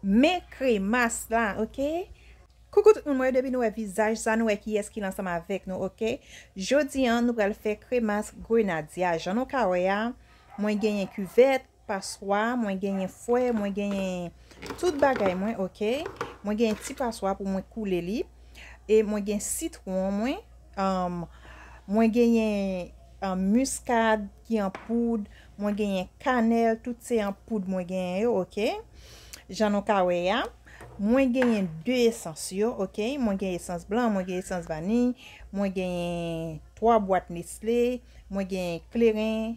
Men kremas la ok. Coucou tout moun mwen yo depi nou wè vizaj sa nou wè kiyès ki ansanm avèk nou ok jodi an nou pral fè kremas grenadia jan nou ka wè a mwen genyen kivèt paswa mwen genyen fwè mwen genyen tout bagay mwen ok mwen genyen ti paswa pou mwen koule li e mwen gen sitwon mwen mwen genyen miskad ki an poud, mwen genyen kanèl, tout se an poud mwen genyen yo, ok. Jan nou ka wè ya, mwen genyen 2 esans yo, ok. Mwen gen esans blan, mwen gen esans vani, mwen genyen 3 bwat nestle, mwen genyen kleren,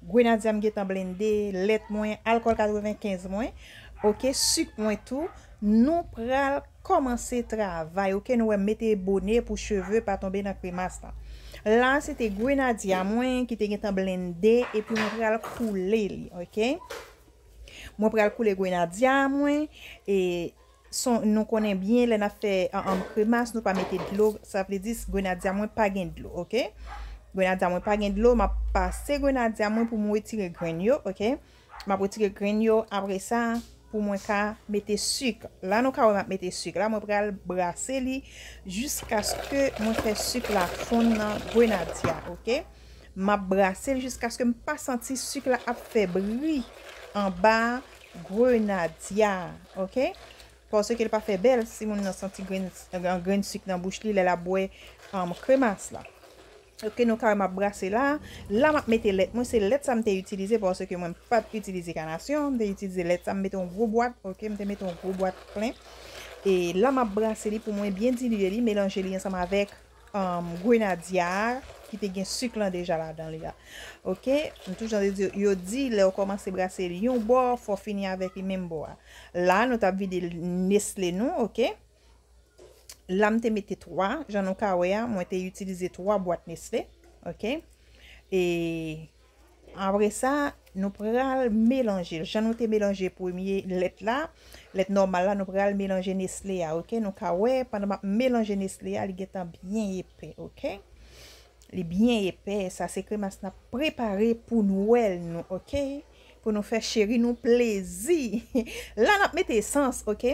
grenadya m gentan blende, lèt mwen, alkòl 95 mwen, ok, sik mwen tou, nou pral. Kòmanse travay ok nou wèm mete bone pou cheve pa tonbe nan kremas lan la se te grenadya mwen ki te gentan blende epi mwen pral koule li ok mwen pral koule grenadya mwen e son nou konnen byen lè nap fè anm kremas nou pa mete dlo sa vle di grenadya mwen pa gen dlo ok grenadya mwen pa gen dlo map pase grenadya mwen pou mwen wetire grenn yo ok. Map retire grenn yo apresa pou mwen ka mete suk la nou ka wè map mete suk la mwen pral brase li jiskaske mwen fè suk la fonn nan grenadye a ok map brase li jiskaske m pa santi suk la ap fè bri anba grenadye a ok paske l pa fè bèl si moun nan santi grenn suk nan bouch li lèl ap bwè kremas la. Ok nou kare map brase la. La map mete lèt mwen se lèt sa m te itilize paske mwen pat itilize kanasyon m te itilize lèt sa m mete yon gwo bwat ok m te mete yon gwo bwat plen e la map brase li pou mwen byen dilye li melanje li ansanm avèk grenadya a ki te gen suk lan deja ladan li a ok m tou jan de yo di lèw kòmanse brase li yon bò fò fini avèk li menm bò a la nou tap vide nesle nou ok. la m te mete 3, jan nou ka wè a, mwen te itilize 3 bwat Nestlé, ok, e apre sa, nou pral melanje, jan nou te melanje premye lèt la, lèt nòmal la, nou pral melanje Nestlé a, ok, nou ka wè, pandan m ap melanje Nestlé a, li gen tan byen epè, ok, li byen epè, sa se kremas n ap prepare pou Nwèl nou, ok. Pou nou fè cheri nou plezi. La nap mete esans ok.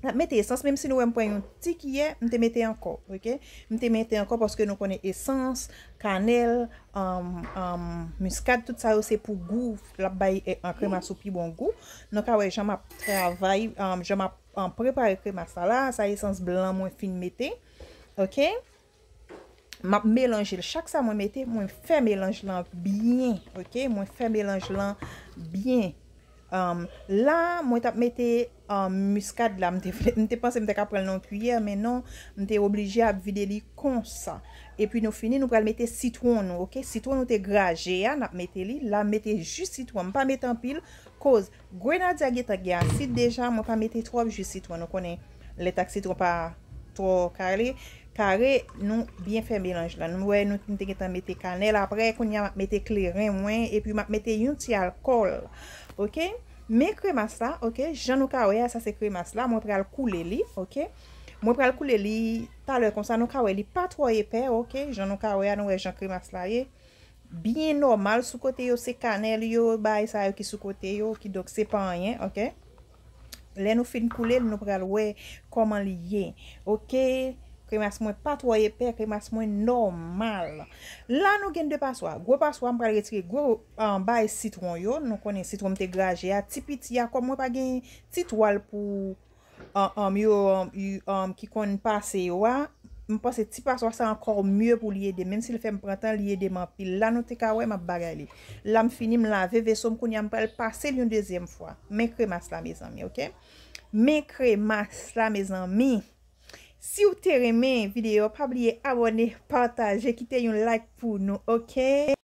Nap mete esans menm si nou wèm pran yon ti kiyè m te mete ankò ok. M te mete ankò paske nou konnen esans, kanèl, miskad tout sa yo se pou gou lap bay kremas ou pi bon gou. Nou ka wè jan map travay jan map prepare kremas la la sa esans blan mwen fin mete ok. Map melanjel chak sa mwen mete mwen fè melanj lan byen ok mwen fè melanj lan byen la mwen tap mete miskad la mwen te panse mwen te ka pranl nan yon kiyè men non mwen te oblije ap vide li konsa epi nou fini nou pral mete sitwon nou ok sitwon nou te graje a nap mete li la mete jus sitwon mwen pa mete anpil koz Grenadye a gentan gen asid deja mwen pa mete trop ju sitwon ou konnen lèt ak sitwon pa tro kale kare nou byen fè melanj la nou wè nou te gentan mete kanèl aprè kounya map mete kleren mwen epi map mete yon ti alkòl ok men kremas la ok jan nou ka wè a sa se kremas la mwen pral koule li ok mwen pral koule li talè konsa nou ka wè li pa tro epè ok jan nou ka wè a nou wè jan kremas la ye. Byen nòmal sou kote yo se kanèl yo bagay sa yo ki sou kote yo ki donk se pa anyen ok lè nou fin koule l nou pral wè kòman li ye ok kremas mwen pa twò epè kremas mwen nòmal la nou gen 2 paswa gwo paswa m pral retire gwo bagay sitwon yo nou konnen sitwon m te graje a ti piti a kòm mwen pa gen ti twal pou um yo um ki konn pase yo a m panse ti paswa sa ankò mye pou li edem menm si l fè m pran tan li edem anpil la nou te ka wè m ap bagay li la m fini m lave veso m kounye a m pral pase l yon dezyèm fwa men kremas la mezanmi ok men kremas la mezanmi si w te renmen videyo a pa bliye abòne pataje kite yon like pou nou ok.